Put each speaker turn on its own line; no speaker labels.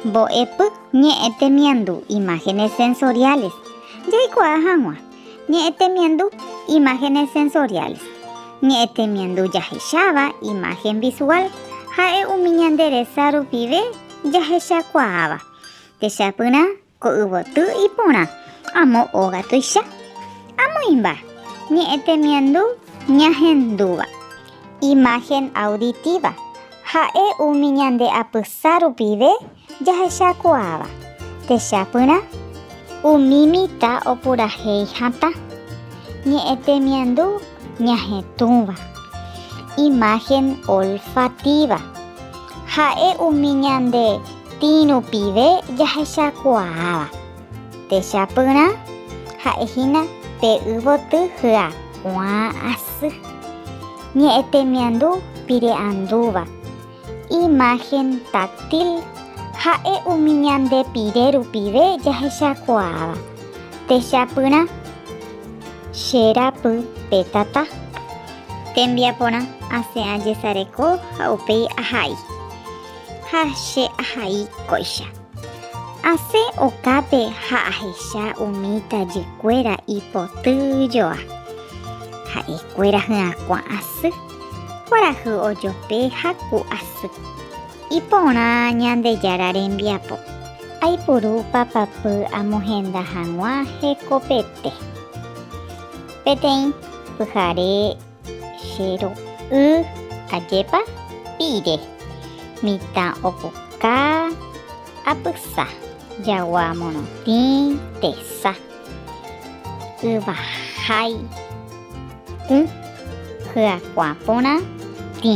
Mbo'epy ñe'ẽ temiandu Imágenes sensoriales Jaikuaa hag̃ua ñe'ẽ temiandu Imágenes sensoriales Ñe'ẽ temiandu jahecháva imagen visual ha'e umi ñande resa rupive jahechakuaáva techapyrã Ko yvoty iporã, amo óga tuicha, amo imba, ñe'ẽ temiandu ñahendúva. Imagen auditiva, ha'e umi ñande apysa rupive jahechakuaáva, techapyrã, umi mitã opurahéi hatã, ñe'ẽ temiandu ñahetũva. Imagen olfativa, ha'e umi ñande Tĩ rupive jahechakuaáva techapyrã ha'e hína pe yvoty hyakuã asy, ñe'ẽ temiandu pire'andúva, imagen táctil, ha'e umi ñande pire rupive jahechakuaáva techapyrã Che rapy pe tata. Tembiaporã, asẽ ajesareko ha upéi ahai. Ha che ahai kóicha. Asẽ okápe ha ahecha umi tajykuéra ipoty joa. Ha'ekuéra hyakuã asy, kuarahy ojope ha ku asy. Iporã Ñandejára rembiapo. Aipuru papapy amohenda hag̃ua hekopete. Peteĩ pyhare. Che ru'y ajépa pire. Mitã opuka apysa. Jagua morotĩ tesa. Yvahai ũ hyakuã porã tĩ.